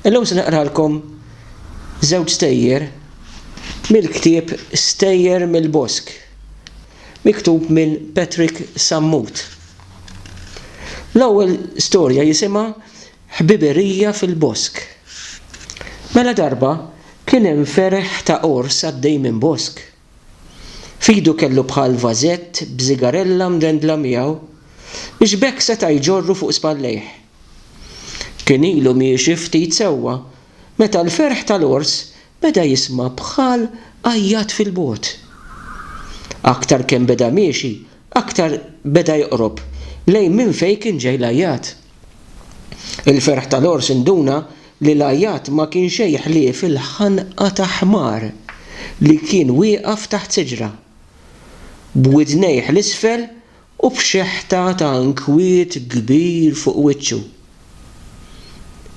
Illum se naqralkom żewġ stejjer mill-ktieb Stejjer mill-Bosk, miktub minn Patrick Sammut. L-ewwel storja jisimha Ħbiberija fil-Bosk. Mela darba kien hemm ferħ ta' qors għaddej minn bosk. F'idu kellu bħal vażett b'sigarella mdendla miegħu biex b'hekk seta' jġorru fuq spallejh. Kien ilu miexi ftit sewwa meta l-ferħ tal-għors beda jisma' bħal għajjat fil-bogħod. Aktar kemm beda miexi aktar beda joqrob lejn minn fejn kien ġej l-għajjat. Il-ferħ tal-għors induna li l-għajjat ma kien xejn ħlief il-ħanqa ta' ħmar li kien wieqaf taħt siġra, b'widnejh 'l isfel u b'xeħta ta' inkwiet kbir fuq wiċċu.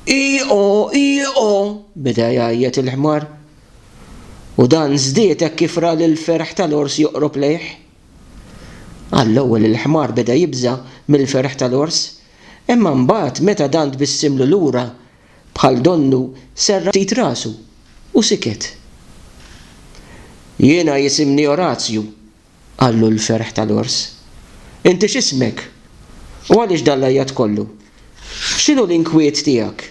Ii-o! Ii-o! beda jgħajjat il-ħmar, u dan żdied hekk kif ra li l-ferħ tal-għors joqrob lejh. Għall-ewwel il-ħmar beda jibża' mill-ferħ tal-ors, imma mbagħad meta dan tbissimlu lura bħal donnu serraħ ftit rasu u siket. Jiena jisimni Orazju, qallu l-ferħ tal-ors. Inti x'ismek? U għaliex dan l-għajjat kollu? X'inhu l-inkwiet tiegħek?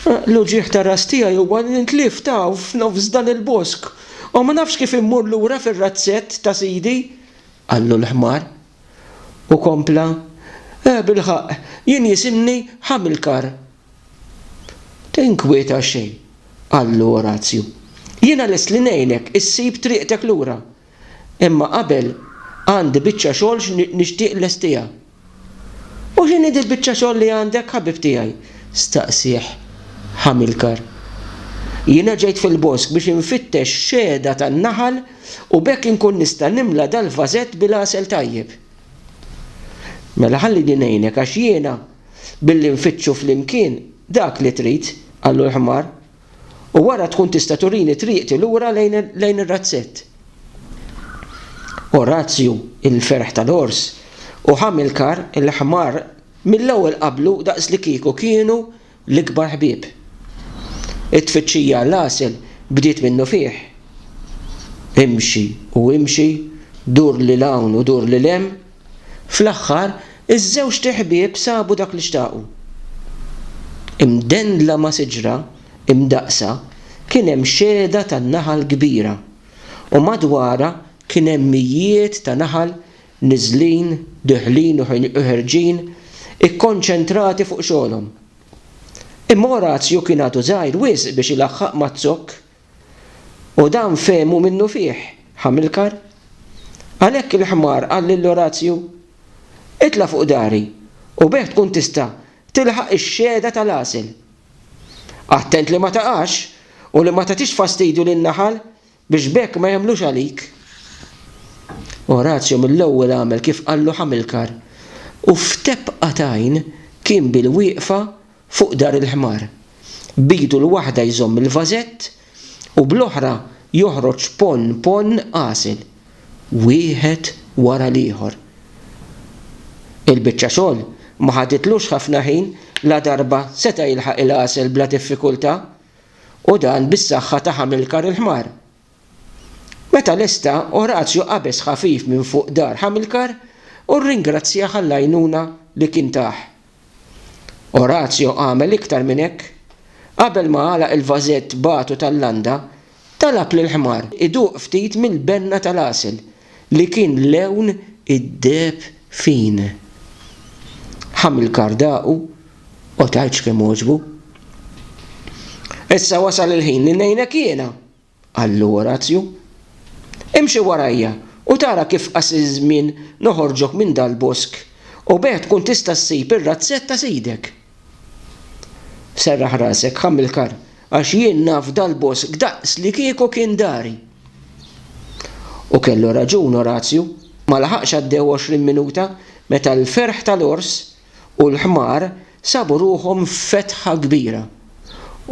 L-uġigħ tar-ras tiegħi huwa li ntlift hawn f'nofs dan il-bosk, u ma nafx kif immur lura fir-razzett ta' sidi! qallu l-ħmar. U kompla, Eh, bilħaqq, jien jisimni Ħamilkar. Tinkwieta xejn, qallu Orazju. Jiena lest li ngħinek issib triqtek lura. Imma qabel għandi biċċa xogħol x'nixtieq nlestiha. U x'inhi dil-biċċa xogħol li għandek, ħabib tiegħi? staqsieh Hamilkar. Jiena ġejt fil-bosk biex infittex xehda tan-naħal u b'hekk inkun nista' nimla dal-vażett bil-għasel tajjeb. Mela ħallini ngħinek għax jiena billi nfittxu flimkien dak li trid, qallu l-ħmar. u wara tkun tista' turini triqti lura lejn ir-razzett. Orazju, il-ferħ tal-għors, u Ħamilkar, il-ħmar, mill-ewwel qablu daqslikieku kienu l-ikbar ħbieb. It-tfittxija għall-għasel bdiet minnufih. Imxi u imxi, dur lil hawn u dur lil hemm, Fl-aħħar, iż-żewġt iħbieb sabu dak li xtaqu. Imdendla ma' siġra imdaqqsa kien hemm xehda ta' naħal kbira, u madwarha kien hemm mijiet ta' naħal niżlin, deħlin u ħerġin, ikkonċentrati fuq xogħolhom. Imma Orazju kien għadu żgħir wisq biex ilaħħaq maz-zokk U dawn fehmu minnufih, Ħamilkar. Għalhekk il-ħmar qal lil Orazju, Itla' fuq dari u bih tkun tista' tilħaq ix-xehda tal-għasel. Attent li ma taqax u li ma tagħtix fastidju lin-naħal biex b'hekk ma jagħmlux għalik. Orazju mill-ewwel għamel kif qallu Ħamilkar u f'tebqa t'għajn kien bil-wieqfa fuq dar il-ħmar. B'idu l-waħda jżomm il-vażett u bl-oħra joħroġ ponn ponn għasel, wieħed wara l-ieħor. Il-biċċa xogħol ma ħaditlux ħafna ħin, ladarba seta' jilħaq il-għasel bla diffikultà, u dan bis-saħħa ta' Ħamilkar il-ħmar. Meta lesta, Orazju qabeż ħafif minn fuq dar Ħamilkar u rringrazzjah għall-għajnuna li kien tah. Orazio għamel iktar minn hekk. Qabel ma għalaq il-vażett b'għatu tal-landa, talab lill-ħmar iduq ftit mill-benna tal-għasel li kien lewn id-deheb fin. Hamilkar daqu, Qotgħidx kemm għoġbu. Issa wasal il-ħin li ngħinek jiena! Qallu Orazju, Imxi warajja u tara kif qas iż-żmien noħorġok minn dal-bosk u b'hekk tkun tista' ssib ir-razzett ta' sidek. Serraħ rasek, Ħamilkar, għax jien naf dal-bosk daqslikieku kien dari. U kellu raġun Orazju, ma laħaqx għaddew għoxrin minuta meta l-ferħ tal-għors u l-ħmar sabu ruħhom f'fetħa kbira,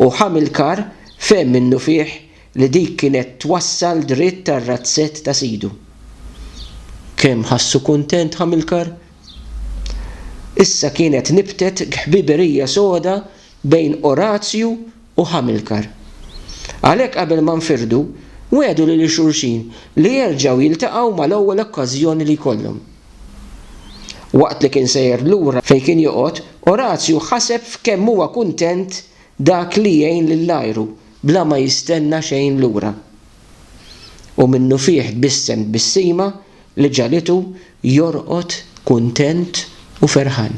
u Ħamilkar fehem minnufih li dik kienet twassal dritt għar-razzett ta' sidu. Kemm ħassu kuntent Ħamilkar! Issa kienet nibtet ghbiberija soda bejn Orazju u Ħamilkar. Għalhekk qabel ma nfirdu, wegħdu lil xulxin li jerġgħu jiltaqgħu mal-ewwel okkażjoni li jkollhom. Waqt li kien sejjer lura fejn kien joqgħod, Orazju ħaseb f'kemm huwa kuntent dak li jgħin lil għajru bla ma jistenna xejn lura. U minnufih tbissem tbissima li ġagħlitu jorqod kuntent u ferħan.